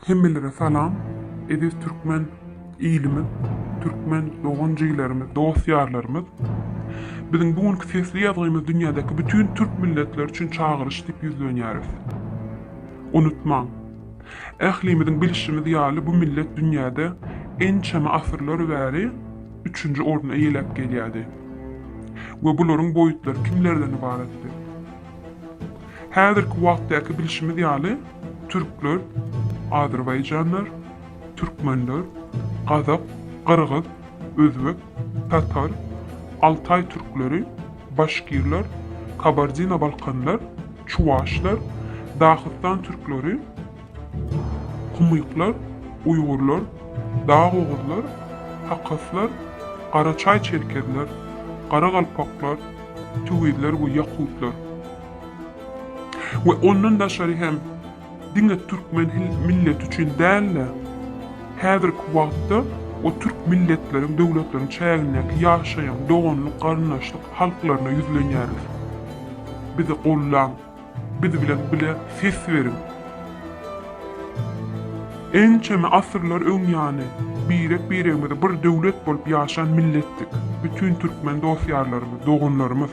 Hemmelere salam eziz türkmen ilimiz türkmen dogan jiglerimiz dost ýarlarymyz Biziň bu günki sesli ýazgymyz dünýädäki bütin türk milletleri üçin çagyryş diýip ýüzlenýäris. Unutmaň, ählimiziň bilşimiz ýaly bu millet dünýäde ençeme asyrlar bäri üçünji orny eýeläp gelýärdi we bularyň boýutlary kimlerden ybaratdy? Häzirki wagtdaky bilşimiz ýaly, türkler, azerbaýjanlar, türkmenler, gazak, gyrgyz, özbek, tatar, altaý türkleri, başkirler, kabardino-balkanlar, çuwaşlar, dahystan türkleri, Kumyklar, uýgurlar, dagoguzlar, hakaslar, garaçaý çerkezler, garagalpaklar, tüwizler we ýakutlar we ondan daşary hem diňe türkmen milleti üçin däl-de, häzirki wagtda o türk milletleriň, döwletleriň çägindäki ýaşaýan doganlyk-garyndaşlyk halklaryna ýüzlenýäris. Bizi gollaň! Biz bilen bile ses beriň! Ençeme asyrlar öň ýany, birek-biregimize bir döwlet bolup ýaşan milletdik. Bütin türkmen dost-ýarlarymyz, doganlarymyz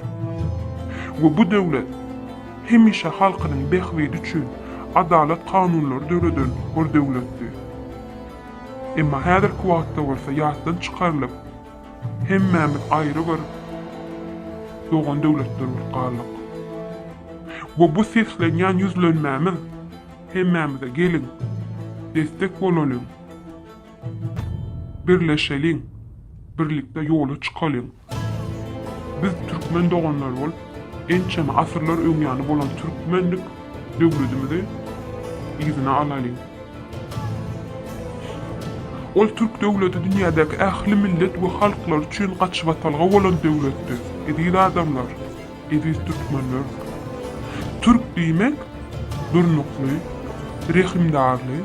we bu döwlet hemişe halkynyň bähbidi üçin adalat kanunlary döreden bir döwletdi. Emma häzirki wagtda bolsa ýatdan çykarylyp, Hemmämiz aýry bir dogan döwletler bolup galdyk. We bu seslenýän ýüzlenmämiz hemmämize geliň, destek bolalyň, birleşeliň, birlikde ýola çykalyň. Biz türkmen doganlary bolup, ençeme asyrlar öňýany bolan türkmenlik döwletimizi yzyna alalyň. Ol türk döwleti dünýädäki ähli millet we halklar üçin gaçybatalga bolan döwletdi. Eziz adamlar, eziz türkmenler! Türk diýmek, durnukly, rehimdarly,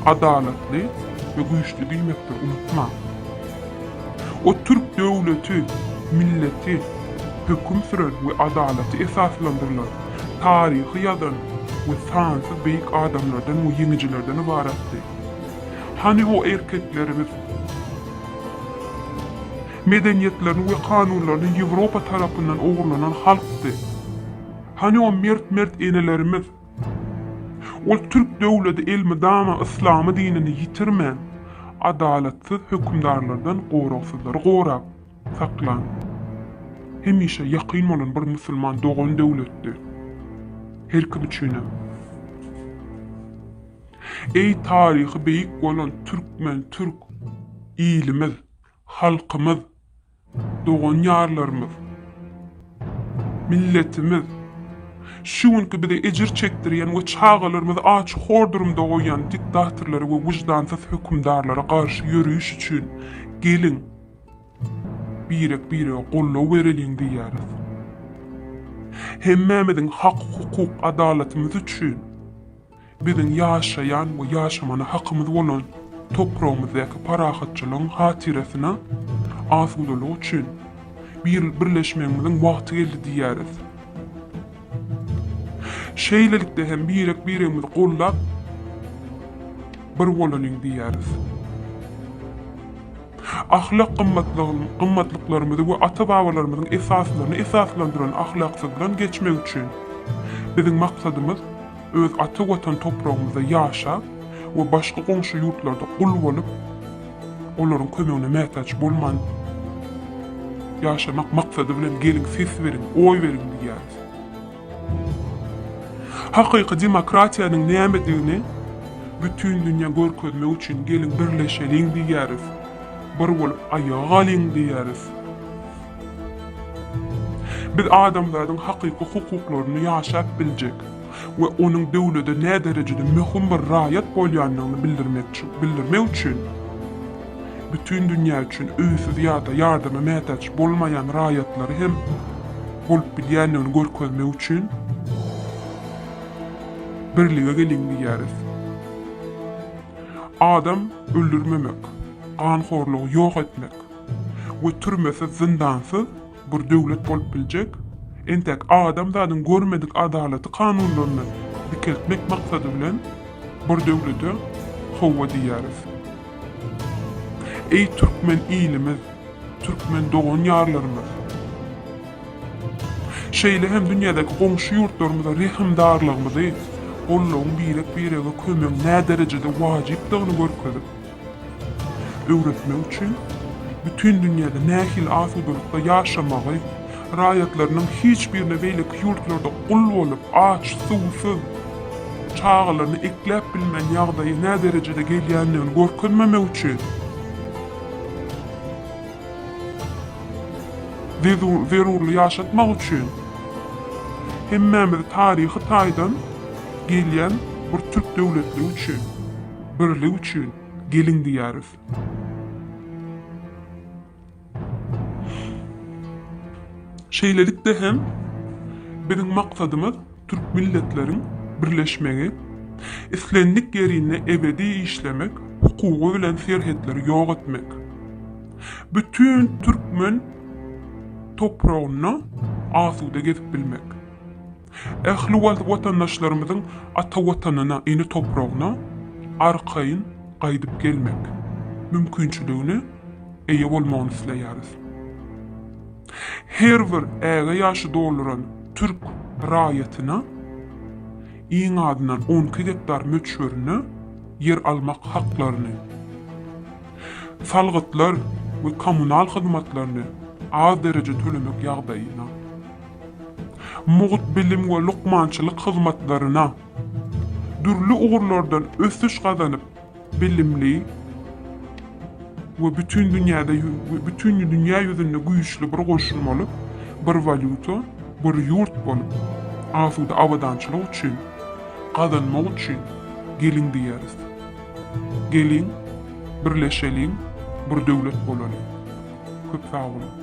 adalatly we güýçli diýmekdir, unutmaň! O türk döwleti, milleti, höküm süren we adalaty esaslandyrylan, taryhy ýazan we sansyz beýik adamlardan we ýeňijilerden ybaratdy. Hany o erkeklerimiz? Medeniýetlerini we kanunlaryny Ýewropa tarapyndan ogurlanan halkdy. Hany o mert-mert enelerimiz? Ol türk döwleti elmydama yslamy dinini ýitirmän, adalatsyz hökümdarlardan goragsyzlary gorap saklan, hemişe ýakyn bolan bir musulman dogan döwletdi. Her kim üçinem. Eý taryhy beýik bolan türkmen, türk ilimiz, halkymyz! Dogan-ýarlarymyz, milletimiz, şu günki bize ejir çekdirýän we çagalarymyzy aç hor durumda goýýan diktatorlara we wyjdansyz hökümdarlara garşy ýöreýiş üçin geliň, birek-birege goldaw bereliň diýýäris. Hemmämiziň hak-hukuk, adalatymyz üçin Biziň ýaşaýan we ýaşamana hakymyz bolan topragymyzdaky parahatçylygyň hatyrasyna, asudalyk üçin bir birleşmegimiziň wagty geldi diýýäris. Şeýlelikde hem birek-biregimizi gollap, bir bolalyň diýýäris. Ahlak gymmatlyklarymyzy we ata-babalarymyzyň esaslaryny esaslandyran ahlaksyzdan geçmek üçin biziň maksadymyz, Öz ata Watan topragymyzda ýaşap we başga goňşy ýurtlarda gul bolup, olaryň kömegine mätäç bolman ýaşamak maksady bilen geliň ses beriň, oý beriň diýýäris. Hakyky demokratiýanyň nämedigini bütin dünýä görkezmek üçin geliň birleşeliň diýýäris, bir bolup aýaga galyň diýýäris. Biz adamzadyň hakyky hukuklaryny ýaşap biljek we onuň döwlede näderejede möhüm bir raýat bolýandygyny bildirmek üçin bütin dünýä üçin öýsüz ýa-da ýardama mätäç bolmaýan raýatlary hem bolup bilýändigini görkezmek üçin birlige geliň diýýäris. Adam öldürmemek, ganhorlugy ýok etmek. we türmesiz zyndansyz bir döwlet bolup biljek, entäk adamzadyň görmedik adalaty kanunlaryny dikeltmek maksady bilen bir döwlete howwa diýýäris. Eý türkmen ilimiz, türkmen dogan ýarlarymyz! Şeýle hem dünýädäki goňşy ýurtlarymyza rehimdarlygymyzy, gollagyň birek birege kömegiň näderejede wajypdygyny görkezip, öwretmek üçin bütin dünýäde nähili asudalykda ýaşamagy, raýatlarynyň hiç birine beýleki ýurtlarda gul bolup, aç, suwsuz, çagalaryny ekläp bilmän ýagdaýa nä derejede gelýändigini görkezmemek üçin we zerurly ýaşatmak üçin hemmämizi taryhy taýdan gelýän bir türk döwletligi üçin. Birlik üçin geliň diýýäris. Şeýlelikde hem biziň maksadymyz türk milletleriň birleşmegi, islendik ýerinde ebedi işlemek hukugy bilen serhetleri ýok etmek, bütin türkmen topragynda asuda gezip bilmek. Ähli wagt watandaşlarymyzyň ata Watanyna, ene topragyna arkaýyn gaýdyp gelmek mümkinçiligine eýe bolmagyny isleýäris. Her bir äge ýaşy dolduran türk raýatyna iň azyndan on iki gektar möçberinde ýer almak haklaryny, salgytlar we kommunal hyzmatlaryny az derejede tölemek ýagdaýyna, mugt bilim we lukmançylyk hyzmatlaryna, dürli ugurlardan ösüş gazanyp, bilimli we bütin dünýäde bütin dünýä ýüzünde güýçli bir goşun bolup, bir walýuta, bir ýurt bolup, asuda abadançylyk üçin, gazanmak üçin geliň diýeris. Geliň, birleşeliň, bir döwlet bolalyň. Köp sag boluň!